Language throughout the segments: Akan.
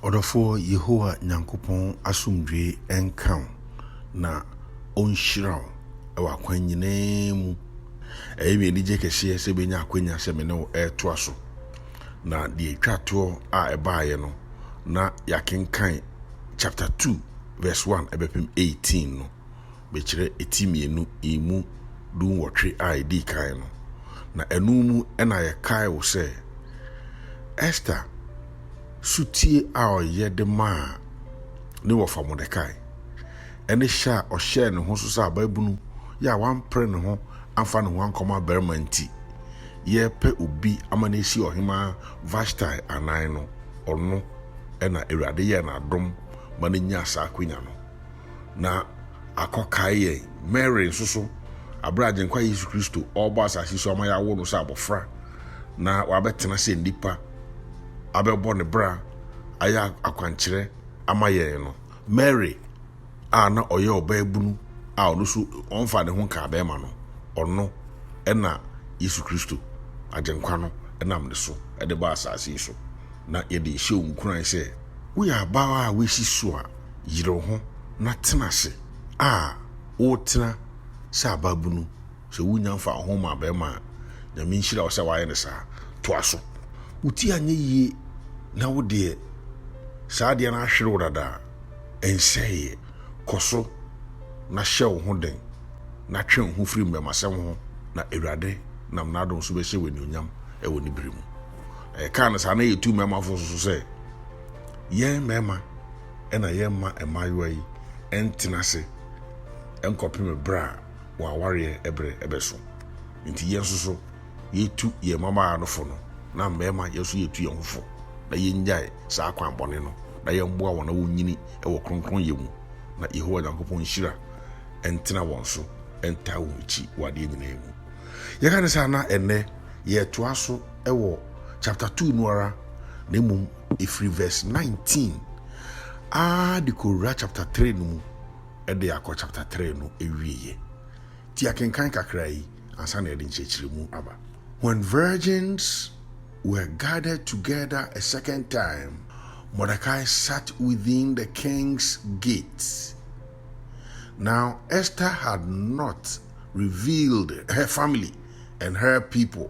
Ɔdɔfoɔ Yehowa Nyankopɔn asomdwoeɛ nka wo. na ɔnhyira wo wɔ akwan nyinaa mu. Ɛyɛ me anigye kɛseɛ sɛ menya akwanya sɛ me ne wo retoa so, na deɛ ɛtwa toɔ a ɛbaeɛ no, na yɛakenkan chapter 2 verse 1 ɛbɛpem 18 no, mekyerɛ ɛti mmienu mu du nwɔtwe a ɛdii kan no, na ɛno mu na yɛkae wo sɛ Esther sotie a ɔyɛ de maa ne wɔfa Mordekai, ne hyɛ a ɔhyɛɛ ne ho so sɛ abaabunu yɛ a wampere ne ho amfa ne ho ankɔma barima nti, yɛrepɛ obi ama no asi Ɔhemmaa Vashtai anan no, ɔno na Awurade yɛɛ no adom ma no nyaa saa akwanya no. na akɔkae yɛn. Mary nso so, bere a Agyenkwa Yesu Kristo ɔrebɔ asase so ama yɛawo no sɛ abɔfra na wabɛtena sɛ nnipa abɛbɔ ne bra ayɛ akwankyerɛ ama yɛn no, Mary a na ɔyɛ ɔbaabunu a ɔno nso ɔmfa ne ho nkaa bɛrima no, ɔno na Yesu Kristo, Agyenkwa no nam ne so de ba asase yi so. Na yɛde hyɛ wo nkuran sɛ woyɛ abaa a woasi so a, yere wo ho na tena ase a wotena sɛ abaabunu sɛ wonya mfa wo ho ma bɛrima a nyame nhyira wo sɛ wayɛ no saa toa so wo ti anyɛ yie na wo deɛ saa adeɛ no ahwere wo dada a ɛnsɛeɛ kɔ so na hyɛ wo ho den na twe wo ho firi mmɛmasɛm ho na awurade nam n'adom so bɛhyɛ wo anuonyam ɛwɔ ne bere mu na yɛkaa no saa na yɛtu mmɛmafo so sɛ Yɛn mmarima na yɛmma mmaayewa yi ntena ase nkɔpem berɛ a wɔn awareɛ berɛ bɛso. Nti yɛn nso so yɛtu yɛn mmabaawa no fo no, na mmarima yɛn nso yɛtu yɛn ho fo na yɛnnyae saa kwan bɔne no, na yɛmmoa wɔn na wɔnyini wɔ kronkronyɛ mu, na Yehowa Nyankopɔn nhyira ntena wɔn so ntaa wɔn akyi wɔ adeɛ nyinaa mu. Yɛka ne saa na ɛnnɛ yɛtoa so wɔ chapter 2 no ara na mmom ɛfiri verse nineteen aa de kɔwura chapter three no mu de akɔ chapter three no awieeɛ. Ti akenkan kakra yi ansa na yɛde nkyerɛkyerɛmu aba. When virgins were gathered together a second time, Mordecai sat within the king's gates. Now Esther had not revealed her family and her people,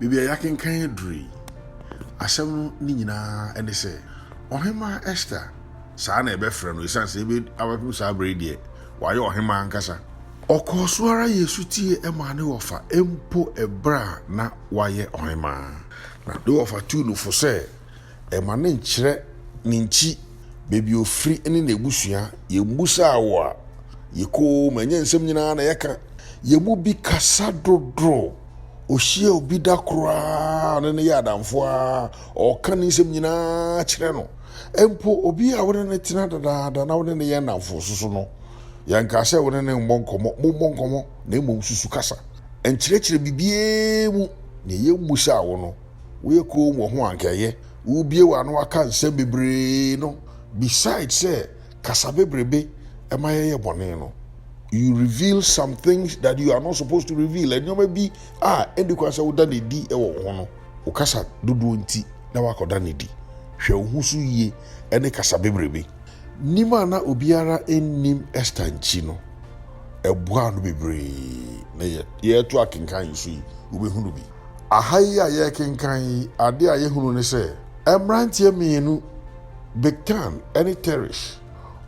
Baabi a yɛakenkan aduru yi, asɛm no ne nyinaa ne sɛ, Ɔhemmaa Ester, saa na yɛbɛfrɛ no esiane sɛ ebe, abɛpem saa bere yi deɛ, wayɛ ɔhemmaa ankasa. Ɔkɔɔ so ara yɛɛ sotie maa ne wɔfa mpo bere a na wayɛ ɔhemmaa, na ne wɔfa tuu no fo sɛ, Ɛma no nkyerɛ ne nkyi, baabi ofiri ne n'abusua. Yɛmmusaa wo a, yɛ koom, ɛnyɛ nsɛm nyinaa na yɛka. Yɛn mu bi kasa dodo. Ohyia obi da koro ara a, ɔne no yɛ adamfo ara, ɔka ne nsɛm nyinaa kyerɛ no. Mpo obi a wo ne no tena dedaada na wo ne no yɛ nnamfo nso so no, yɛnkaa sɛ wo ne no mmɔ nkɔmmɔ. Mommɔ nkɔmmɔ, na mmom susu kasa. Ɛnkyerɛkyerɛ biribiara mu nea yɛmmusaa wo no. Woyɛ komm wɔ ho a anka ɛyɛ. Wubue w'ano aka nsɛm bebree no beside sɛ kasa bebrebe ɛma yɛyɛ bɔne no, you reveal some things that you are not supposed to reveal. Nneɛma bi a ɛnni kwan sɛ woda no adi wɔ wo ho no, wo kasa dodoɔ nti na woakɔda no adi. Hwɛ wo ho so yie ɛne kasa bebrebe. Nim a na obiara nnim Esther nkyi no, ɛboaa no bebree. Na yɛreto akenkan nso yi, wobɛhunu bi. aha yi a yɛrekenkan yi, ade a yɛhunu ne sɛ, mmeranteɛ mmienu, Bigtan ne Teresh,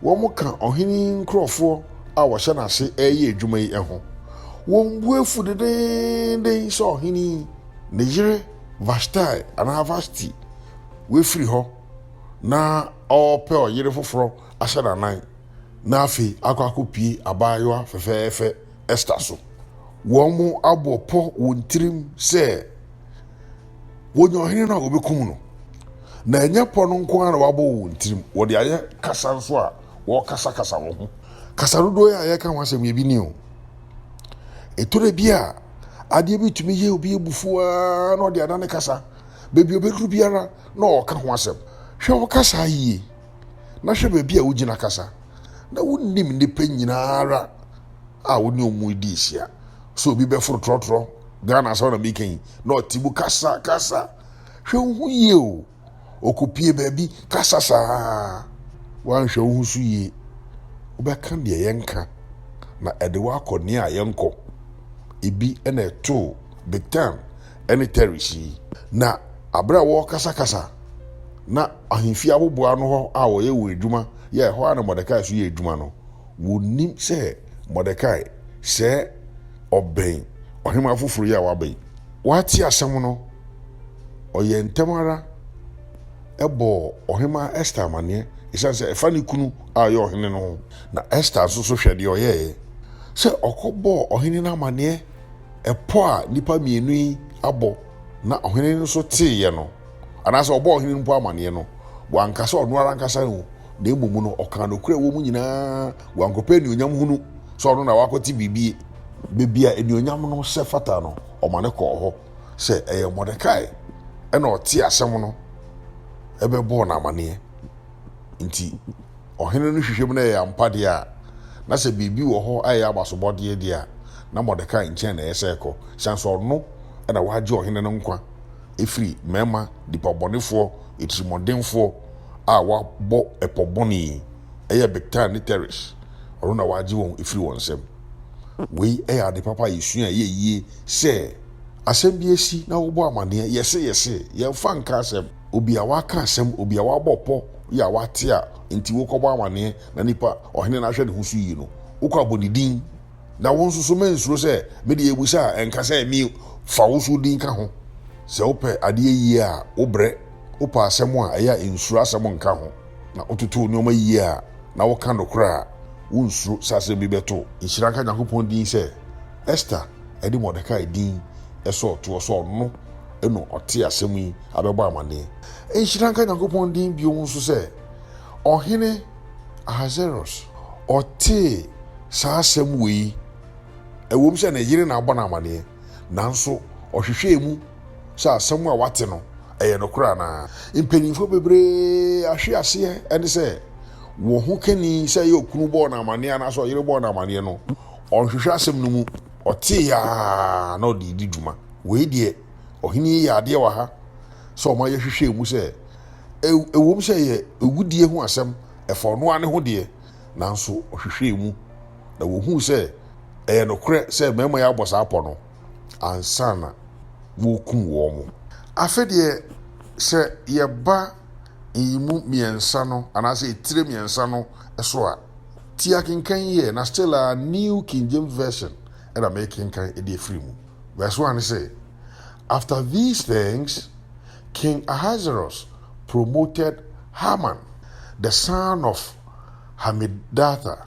wɔka ɔhene yi nkurɔfoɔ a wɔhyɛ n'ase reyɛ adwuma yi ho. Wɔn bo afu dendeenden sɛ ɔhene yi, ne yere Vashtai anaa Vashti, wafiri hɔ na ɔrepɛ ɔyere foforɔ ahyɛ n'anan na afei akɔ akɔpie abaayewa fɛfɛɛfɛ. Ester so. Wɔabɔ pɔ wɔn tirim sɛ wɔnya ɔhene no a wɔbɛkum no. Na ɛnyɛ pɔ no nko ara na wɔabɔ wɔ wɔn tirim, wɔde ayɛ kasa nso a wɔrekasakasa wɔ ho. Kasa dodoɔ yi a yɛreka ho asɛm yi, ebi ni o. Ɛtɔ da bi a, adeɛ bi tumi yɛ obi abufuo ara na ɔde adane kasa. Baabi a ɔbɛduru biara na ɔreka ho asɛm. Hwɛ wo kasa yie, na hwɛ baabi a wogyina kasa. na wonim nnipa nyinaa ara a wo ne wɔn redi ahyia. Sɛ obi bɛforo trɔtrɔ, Ghana asɛm na meka yi, na ɔte mu kasa kasa, hwɛ wo ho yie o. Ɔkɔpie baabi kasa saa, woanhwɛ wo ho so yie, wobɛka deɛ yɛnka na ɛde woakɔ nea yɛnkɔ. Ebi na ɛtoo Bitan. ne Teres yi. Na bere a wɔrekasakasa na ahemfi abobow ano hɔ a wɔyɛ wɔn adwuma yɛ ɛhɔ a na Mordekai nso yɛ adwuma no, wonnim sɛ Mordekai sɛɛ ɔbɛn ɔhemmaa foforo yi a waba yi. Wate asɛm no, ɔyɛɛ ntɛm ara bɔɔ Ɔhemmaa Ester amanneɛ esiane sɛ ɛfa ne kunu a ɔyɛ ɔhene no ho. Na Ester nso so hwɛ deɛ ɔyɛeɛ, sɛ ɔkɔbɔɔ ɔhene no amanneɛ. Ɛpɔ a nnipa mmienu yi abɔ na ɔhene no nso teeɛ no, anaasɛ ɔbɔɔ ɔhene no mpo amaneɛ no, wanka sɛ ɔno ara ankasa o, na mmom no, ɔkaa nokorɛ a ɛwɔ mu nyinaa, wankɔpɛ anuonyam hunu sɛ ɔno na wakɔte biribi. Baabi a anuonyam no hyɛ fata no, ɔma no kɔɔ hɔ sɛ ɛyɛ Mordekai na ɔtee asɛm no bɛbɔɔ no amaneɛ nti. ɔhene no hwehwɛ mu na ɛyɛ ampa deɛ a, na sɛ biribi wɔ hɔ a ɛyɛ abasobɔdeɛ deɛ a, na Mordekai nkyɛn na ɛyɛ sɛ ɛkɔ, ɛsiane sɛ ɔno na wagye ɔhene no nkwa afiri mmarima nipabɔnefoɔ, atirimuɔdenfoɔ a wɔabɔ ɛpɔ bɔne yi, ɛyɛ Bigtan ne Teres, ɔno na wagye wɔn afiri wɔn nsam. Wei yɛ ade papa a yɛsua a ɛyɛ yie sɛ asɛm bi asi na wobɔ amaneɛ, yɛse yɛse, yɛmfa nka asɛm. Obi a waka asɛm, obi a wabɔ pɔ, obi a wate a enti wokɔbɔ amanneɛ na nipa a ɔhene no ahwɛ ne ho so yie no, wokɔ abɔ ne din. Na wo nso so mansuro sɛ mede abusa a ɛnka sɛ me fa wo so din ka ho. Sɛ wopɛ adeɛ yie a, wobrɛ, wopɛ asɛm a ɛyɛ a nsuro asɛm nka ho, na wototo nneɛma yie a, na woka nokorɛ a, wonsuro sɛ asɛm bi bɛto wo. Nhyira nka Nyankopɔn din sɛ Ester de Mordekai din sɔɔ toɔ sɛ ɔno. ɛna ɔtee asɛm yi abɛbɔ amanneɛ. Nhyira nka Nyankopɔn din bio nso sɛ Ɔhene Ahasweros ɔtee saa asɛm wei, ɛwom sɛ ne yere na abɔ no amanneɛ, nanso ɔhwehwɛɛ mu sɛ asɛm a wate no, ɛyɛ nokorɛ anaa. Mpanyimfoɔ bebree ahwe aseɛ ɛne sɛ wɔn ho kani sɛ ɛyɛ okunu bɔɔ no amanneɛ anaasɛ ɔyere bɔɔ no amanneɛ no, ɔnhwehwɛ asɛm no mu. Ɔtee aa na ɔde redi dwuma. Wei deɛ, ɔhene yi yɛ adeɛ wɔ ha sɛ ɔma yɛhwehwɛɛ mu sɛ, ɛwom sɛ ɛyɛ awudie ho asɛm, ɛfa ɔno ara ne ho deɛ, nanso ɔhwehwɛɛ mu, na wɔhuu sɛ ɛyɛ nokorɛ sɛ mmarima yi abɔ saa pɔ no ansa na wɔrekum wɔn. Afei deɛ, sɛ yɛba. nyiyimu mmiɛnsa no anaasɛ etire mmiɛnsa no so a, ti akenkan yi ɛ, na still ara New King James Version na mekenkan de afiri mu. Verse one se, After these things King Ahasuerus promoted Haman the son of Hammedatha,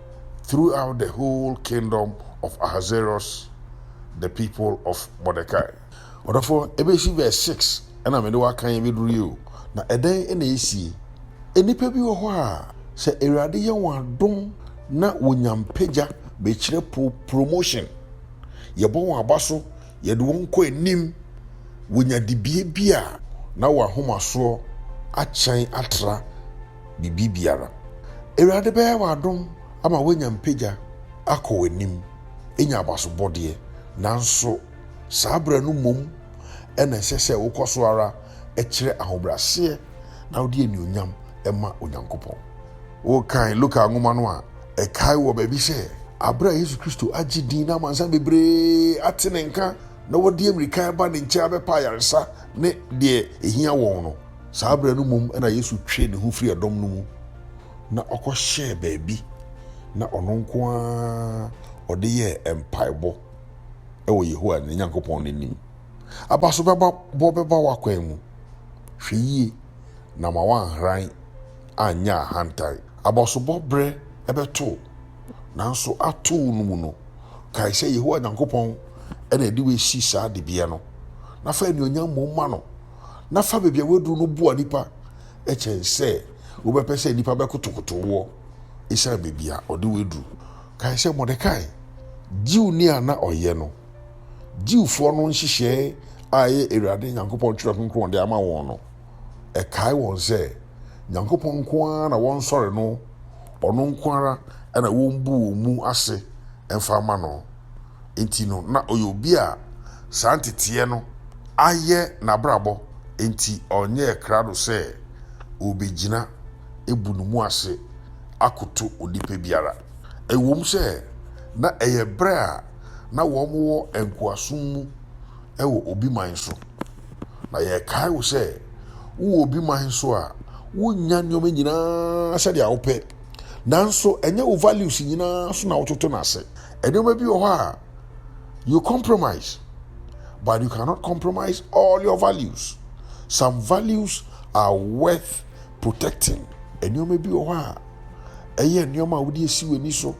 throughout the whole kingdom of Ahasuerus, the people of Mordecai. Ɔdɔfoɔ, ɛbɛsi verse six ɛna mede wo akan abɛduru yi o, na ɛdɛn na ɛsie? Nnipa bi wɔ hɔ a, sɛ Awurade yɛ wɔn adom na wɔnya mpagya bɛkyerɛ po, promotion, yɛbɔ wɔn aba so, yɛde wɔn kɔ anim, wɔnya dibea bi a, na wɔn ahomasoɔ akyɛn atra. biribiara. Awurade bɛyɛ wo adom ama woanya mpagya akɔ w'anim, anya abasobɔdeɛ. Nanso saa berɛ no mmom na ɛsɛ sɛ wokɔ so ara kyerɛ ahobrɛaseɛ na wode anuonyam ma Onyankopɔn. Wokan Luka nwoma no a, ɛkae wɔ baabi sɛ, Berɛ a Yesu Kristo agye din na amansan bebree ate ne nka na wɔde mmirika reba ne nkyɛn abɛpa ayaresa ne deɛ ɛhia wɔn no, Saa berɛ no mmom na Yesu twee ne ho firii dɔm no mu, na ɔkɔhyɛɛ baabi, na ɔno nko ara ɔde yɛɛ mpaebɔ wɔ Yehowa ne Nyankopɔn no anim. Abaso bɛba bɔ bɛba w'akwan mu. Hwɛ yie na ma woanhran anyɛ ahantan. Abasobɔ berɛ bɛto wo, nanso ato wo no mu no, kae sɛ Yehowa Nyankopɔn na ɛde wo asi saa dibea no, na fa anuonyam mmom ma no. na fa baabi a woaduru no boa nnipa kyɛn sɛ wobɛpɛ sɛ nnipa bɛkotokoto woɔ esiane baabi a ɔde wo aduru. Kae sɛ Mordekai, Jewni a na ɔyɛ no, Jewfoɔ no nhyehyɛe a ɛyɛ Awurade Nyankopɔn Twerɛ Kronkron de ama wɔn no, ɛkae wɔn sɛ Nyankopɔn nko ara na wɔnsɔre no, ɔno nko ara na wɔmbu wɔn mu ase mfa mma no. nti no, na ɔyɛ obi a saa nteteɛ no ayɛ n'abrabɔ, enti ɔnyɛɛ krado sɛ ɔrebɛgyina abu ne mu ase akoto onipa biara. Ɛwom sɛ na ɛyɛ berɛ a na wɔwɔ nkoasom mu wɔ obi man so, na yɛkae wo sɛ wowɔ obi man so a, wonya nneɛma nyinaa sɛdeɛ wopɛ. Nanso ɛnyɛ wo values nyinaa so na wototo no ase. Nneɛma bi wɔ hɔ a you compromise but you cannot compromise all your values. Some values are worth protecting. Nneɛma bi wɔ hɔ a ɛyɛ nneɛma a wode asi w'ani so,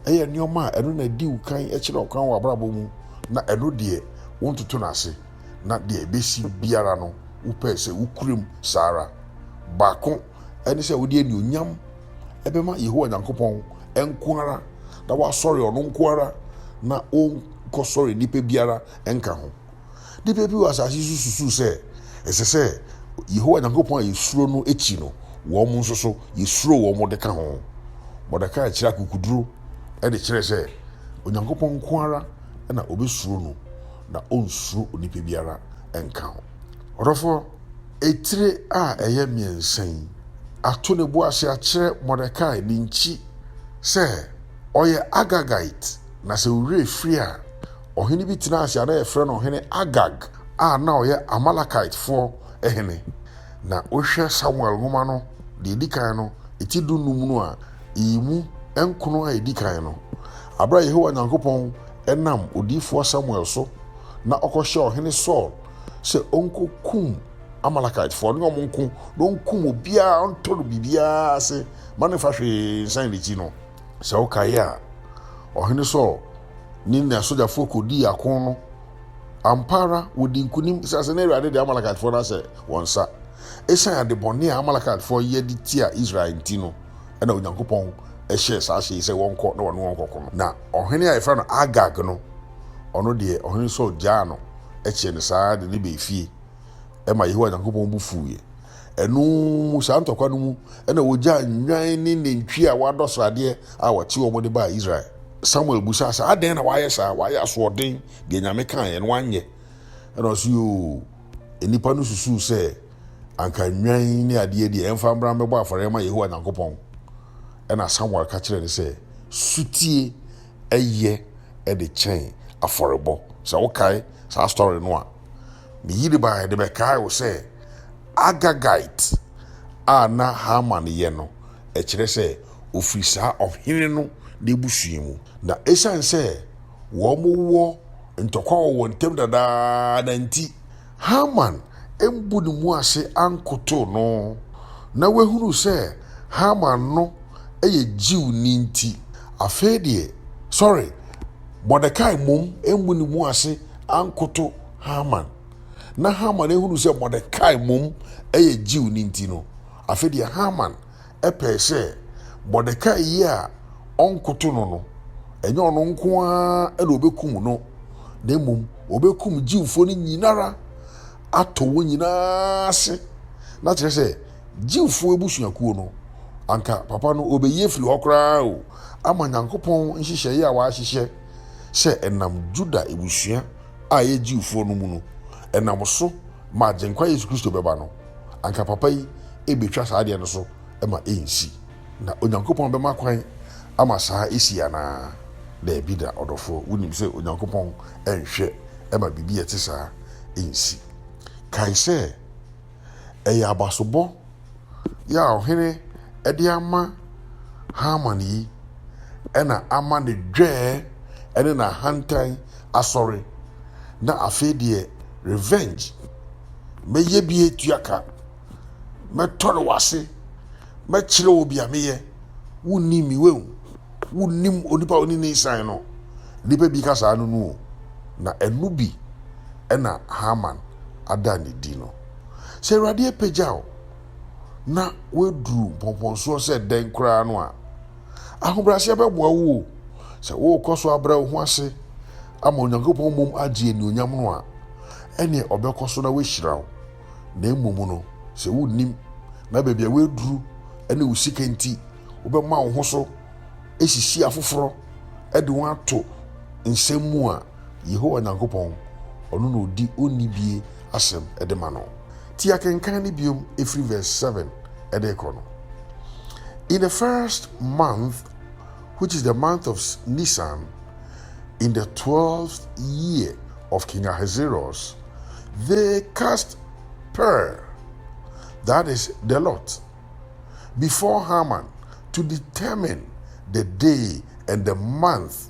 ɛyɛ nneɛma a ɛno na di wo kan kyerɛ ɔkwan wɔ abrabɔ mu na ɛno deɛ wontoto no ase. na deɛ ɛbɛsi biara no, wopɛɛ sɛ wokura mu saa ara. Baako ne sɛ wode anuonyam bɛma Yehowa Nyankopɔn nko ara, na woasɔre ɔno nko ara, na wonkɔsɔre nnipa biara nka ho. Nnipa bi wɔ asase so susu sɛ ɛsɛ sɛ Yehowa Nyankopɔn a yɛsuro no akyi no, wɔn nso so yɛsuro wɔn de ka ho. Mordekai kyerɛ akokoduro de kyerɛ sɛ Onyankopɔn nko ara na obesuro no na onsuro onipa biara nka ho. Ɔdɔfoɔ, etire a ɛyɛ mmiɛnsa yi ato ne bo ase akyerɛ Mordekai ne nkyi sɛ ɔyɛ Agagite, na sɛ wo werɛ firi a, ɔhene bi tenaa ase a na yɛfrɛ no Ɔhene Agag a na ɔyɛ Amalekitefoɔ hene. Na wohwɛ Samuel nwoma no, deɛ ɛdi kan no, ti dunnum no a, yi mu nkono a ɛdi kan no. Bere a Yehowa Nyankopɔn nam odiyifoɔ Samuel so na ɔkɔhyɛɛ Ɔhene Saul sɛ ɔnkɔkum Amalekitefoɔ ne wɔn nko na ɔnkum obiara ntɔ no biribiara ase ma no mfa hwee nsan n'akyi no, sɛ wokae a, Ɔhene Saul ne n'asogyafoɔ kɔdii ako no. Ampa ara, wɔdii nkonim, ɛsiane sɛ na Awurade de Amalekitefoɔ no ahyɛ wɔn nsa. Ɛsiane adebɔne a Amalekitefoɔ yɛ de tia Israel nti no, na Onyankopɔn hyɛɛ saa hyɛ yi sɛ wɔnkɔ na wɔne wɔn nkɔko no. Na ɔhene a yɛfrɛ no Agag no, ɔno deɛ, ɔhene Saul gyaa no kyɛɛ no saa ara de no baa fie. Ɛma Yehowa Nyankopɔn bo fuiɛ. Ɛno mu, saa ntɔkwa no mu, na wɔgyaa nnwan ne nantwie a wɔadɔ sradeɛ a wɔte wɔn de baa Israel. Samuel bisaa sɛ, Adɛn na wayɛ saa? Wayɛ asoɔden, deɛ Nyame kaeɛ no, wanyɛ. Ɛna ɔse, Yoo! Nnipa no susuw sɛ anka nnwan ne ade adi a ɛmfa mmra mmɛbɔ afɔre mma Yehowa Nyankopɔn. Ɛnna Samuel ka kyerɛɛ no sɛ, Sotie ye de kyɛn afɔrebɔ. Sɛ wokae saa story no a, ne yere bae de bɛkae wo sɛ Agagite a na Haman yɛ no, ɛkyerɛ sɛ ofiri saa ɔhene no n'abusua mu. Na esiane sɛ wɔwɔ Ntɔkwa wɔ wɔn ntam dadaada nti, Haman ammu ne mu ase ankotow no. Ná wahunu sɛ Haman no yɛ Jewni nti, afei deɛ, sɔre, Mordekai mmom ammu ne mu ase ankoto Haman. Ná Haman ahunu sɛ Mordekai mmom yɛ Jewni nti no, afei deɛ Haman pɛe sɛ Mordekai yi a ɔnkoto no no, ɛnyɛ ɔno nko ara na obekum no, na mmom obekum Jewfo no nyinara, atɔ wɔn nyinaa ase. Na kyerɛ sɛ, Jewfo abusuakuo no, anka papa no obeyi afiri hɔ koraa o, ama Nyankopɔn nhyehyɛeɛ a wahyehyɛ sɛ ɛnam Juda abusua a ɛyɛ Jewfoɔ no mu no, ɛnam so ma Agyenkwa Yesu Kristo bɛba no. anka papa yi rebɛtwa saa adeɛ no so ma ɛnsi. Na Onyankopɔn bɛma kwan ama saa asi anaa? Daabi da, ɔdɔfoɔ. Wonim sɛ Onyankopɔn nhwɛ ma biribi a ɛte saa nsi. Kae sɛ, ɛyɛ abasobɔ yi a ɔhene de ama Haman yi na ama ne dwɛɛ ne n'ahantan asɔre, na afei deɛ revenge. Mɛyɛ bi atua ka. Mɛtɔre w'ase. Mɛkyerɛ wo bia meyɛ. Wonni mi wɛn. Wonnim onipa a ɔne ne nsan no. Nnipa bi ka saa no nu o. Na ɛno bi ɛna Haman ada ne di no. Sɛ Awurade apagya wo na woaduru mpɔmpɔnsoɔ sɛ dɛn koraa no a, Ahobrɛaseɛ bɛboa wo o. Sɛ worekɔ so abrɛ wo ho ase ama Onyankopɔn mmom agye anuonyam no a, ɛnneɛ ɔbɛkɔ so na wahyira wo. Na mmom no, sɛ wonnim na baabi a woaduru ne wo sika nti wobɛma wo ho so asisi afoforɔ de wɔn ato nsɛm mu a, Yehowa Nyankopɔn, ɔno na odi onni bie asɛm de ma no. Ti akenkan no biom firi verse seven de rekɔ no. In the first month, which is the month of Nisan, in the twelfth year of King Ahasuerus, they cast pur, that is, the lot, before Haman to determine the day and the month.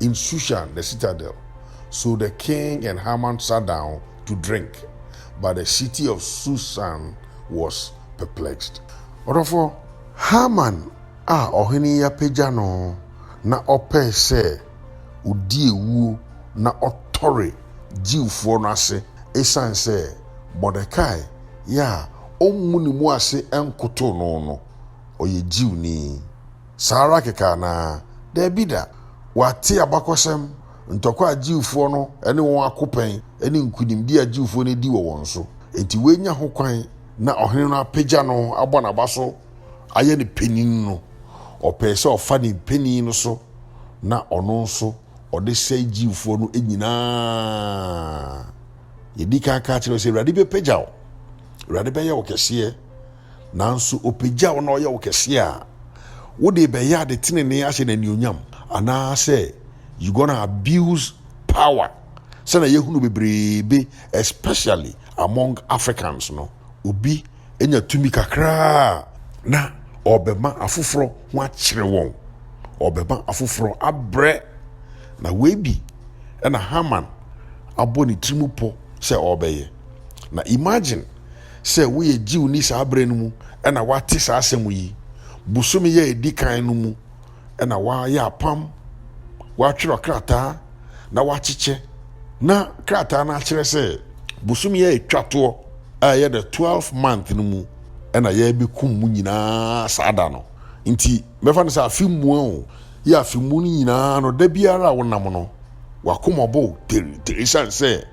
In Shushan the citadel, so the king and Haman sat down to drink, but the city of Shushan was perplexed. Ɔdɔfo, Haman a ɔhene yi apagya no na ɔpɛe sɛ odi awuo na ɔtɔre Jewfoɔ no ase esiane sɛ Mordekai yɛ a ɔmmu ne mu ase nkotow no no, ɔyɛ Jewni. Saa ara kɛkɛ anaa? Dabi da! Wɔate abakɔsɛm, ntɔkwa a Jewfoɔ no ne wɔn ako pɛn, ne nkunimdie a Jewfoɔ no adi wɔ wɔn so. Enti wɔanya hokwan na ɔhene no apagya no abɔ n'aba so ayɛ no panin no, ɔpɛe sɛ ɔfa ne mpanin no so na ɔno nso ɔde sɛe Jewfoɔ no nyinaa. Yɛdii kan kaa kyerɛɛ wo sɛ Awurade bɛpagya wo. Awurade bɛyɛ wo kɛseɛ. Nanso ɔpagya wo na ɔyɛ wo kɛseɛ a, wo de bɛyɛ ade tenenee ahyɛ no anuonyam? Anaasɛ you gonna abuse power? Sɛnea yɛhunu bebree be especially among Africans no, obi nya tumi kakra a, na ɔrebɛma afoforɔ ho akyere wɔn, ɔrebɛma afoforɔ abrɛ. Na wei bi na Haman abɔ ne tiri mu pɔ sɛ ɔrebɛyɛ. Na imagine sɛ woyɛ Jewni saa berɛ no mu na woate saa asɛm yi. Bosome yɛ a ɛdi kan no mu na woayɛ apam, woatwerɛ krataa na woakyekyɛ. Na krataa no akyerɛ sɛ bosome a ɛtwa toɔ a ɛyɛ the 12 month no mu na yɛbɛkum mu nyinaa saa da no. Nti mɛfa no sɛ afe mua o, yɛ afe mu no nyinaa no da biara a wonam no W'akoma bɔ denden esiane sɛ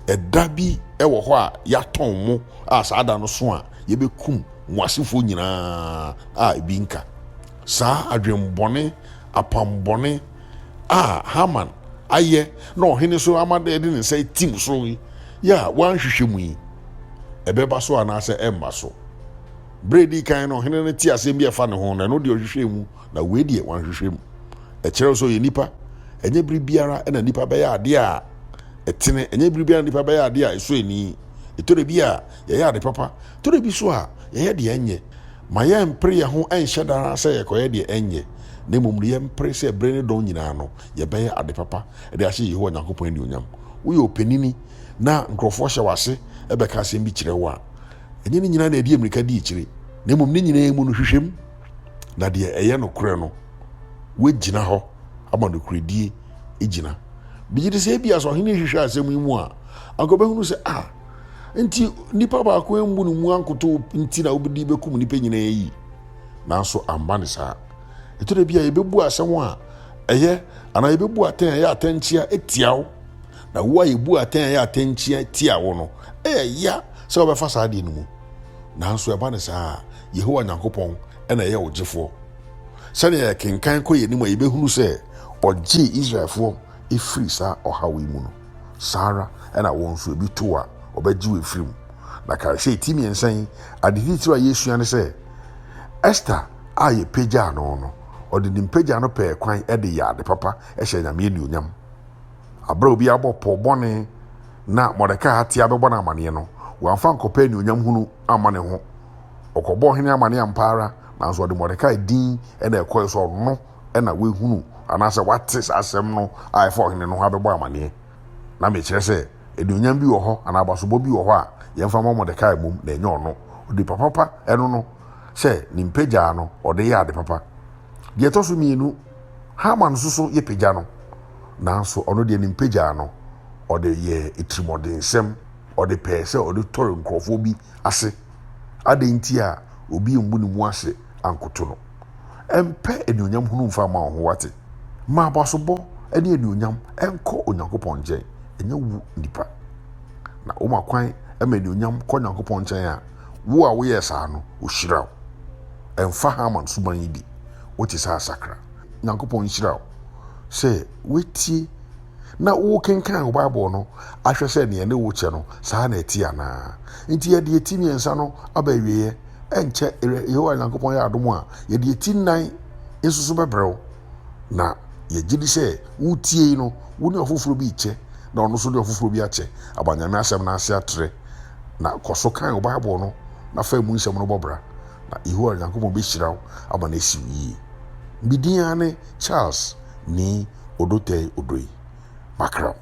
ɛda bi wɔ hɔ a yɛatɔn mo a saa da no so a yɛbɛkum mo asefoɔ nyinaa a ebi nka. Saa adwenbɔne, apammɔne a Haman ayɛ na ɔhene nso ama dɛ de ne nsa atim so yi a wanhwehwɛ mu yi, ɛbɛba so anaasɛ ɛremma so? Berɛ a ɛdii kan no, ɔhene no tee asɛm bi a ɛfa ne ho no, ɛno deɛ ɔhwehwɛɛ mu. Na wei deɛ wanhwehwɛ mu. Ɛkyerɛ sɛ ɔyɛ nipa. Ɛnyɛ bere biara na nipa bɛyɛ adeɛ a ɛtene. Ɛnyɛ bere biara na nipa bɛyɛ adeɛ a ɛsɔ ani. Ɛtɔrɔ bi a, yɛyɛ ade papa. Tɔrɔ bi so a, yɛyɛ deɛ ɛnyɛ. Ma yɛmpere yɛn ho nhyɛ da ara sɛ yɛkɔyɛ deɛ ɛnyɛ, na mmom no, yɛmpere sɛ bere ne dɔn nyinaa no, yɛbɛyɛ ade papa de ahyɛ Yehowa Nyankopɔn anuonyam. Woyɛ ɔpanini na nkurɔfoɔ hyɛ wo ase bɛka asɛm bi kyerɛ wo a, ɛnyɛ ne nyinaa na ɛde mmirika di akyire, na mmom ne nyinaa mu no, hwehwɛ mu. na deɛ ɛyɛ nokorɛ no wagyina hɔ ama nokorɛdie agyina megye de sɛ ebia sɛ ɔhene hwehwɛ asɛm yi mu a anka ɔbɛhunu sɛ a nti nipa baako ammu no mu ankoto nti na wobɛdi bɛkum nipa nyinaa yi nanso amba ne saa ɛtɔ da bi a yɛbɛbu asɛm a ɛyɛ anaa yɛbɛbu atɛn a ɛyɛ atɛnkyea tia wo na wo a yɛbu atɛn a ɛyɛ atɛnkyea tia wo no ɛyɛ ya sɛ wobɛfa saa deɛ no mu Nanso ɛba no saa a, Yehowa Nyankopɔn na ɛyɛ wo gyefoɔ. Sɛnea yɛkenkan kɔ yɛn anim a yɛbɛhunu sɛ ɔgyee Israelfoɔ firi saa ɔhaw yi mu no, saa ara na wo nso ebi to wo a, ɔbɛgye wo afiri mu. Na kae sɛ ti mmiɛnsa yi, ade titiriw a yɛsua ne sɛ Ester a yɛpagyaa no no, ɔde ne mpagya no pɛɛ kwan de yɛɛ ade papa hyɛɛ Nyame anuonyam. Bere a obi abɔ pɔw bɔne na Mordekai atea bɛbɔ no amanneɛ no, wamfa ankɔpɛ anuonyam hunu amma ne ho. Ɔkɔbɔɔ ɔhene amanneɛ ampa ara, nanso ɔde Mordekai din na ɛkɔe sɛ ɔno na wahunu anaasɛ wate saa asɛm no a ɛfa ɔhene no ho abɛbɔ amanneɛ. Na mekyerɛ sɛ, anuonyam bi wɔ hɔ anaa abasobɔ bi wɔ hɔ a yɛmfa mmɔ Mordekai mmom na ɛnyɛ ɔno. Onipa papa, ɛno no, sɛ ne mpa gyaa no, ɔde yɛɛ ade papa. Deɛ ɛtɔ so mmienu. Haman nso so yɛ pagya no, nanso ɔno deɛ ne mpagyaa no, ɔde yɛɛ atirimɔdensɛm, ɔde pɛɛ sɛ ɔde tɔre nkurɔfoɔ bi ase. Adɛn nti a obi mmu ne mu ase ankoto no? Mpɛ anuonyam hunu mfa mma wo ho, woate? Ma abasobɔ ne anuonyam nkɔ Onyankopɔn nkyɛn, ɛnyɛ wo nnipa. Na woma kwan ma anuonyam kɔ Onyankopɔn nkyɛn a, wo a woyɛɛ saa no, ɔhyira wo. Ɛmfa Haman suban yi de, wote sɛ asakra. Nyankopɔn nhyira wo sɛ woatie na wokenkan wo Bible no ahwɛ sɛ nea ɛne wo kyɛ no, saa na ɛte anaa. Enti yɛde eti mmiɛnsa no aba awieɛ. Ɛnkyɛ Yehowa Nyankopɔn yɛ adom a, yɛde eti nnan nso so bɛbrɛ wo. Na yɛgye di sɛ wotie yi no, wo ne ɔfoforɔ bi rekyɛ, na ɔno nso ne ɔfoforɔ bi akyɛ. Ama Nyame asɛm no ase atrɛ. Na kɔ so kan wo Bible no, na fa emu nsɛm no bɔ bra, na Yehowa Nyankopɔn bɛhyira wo ama no asi wo yie. Me din ara ne Charles Nii Odotei Odoi. Makram.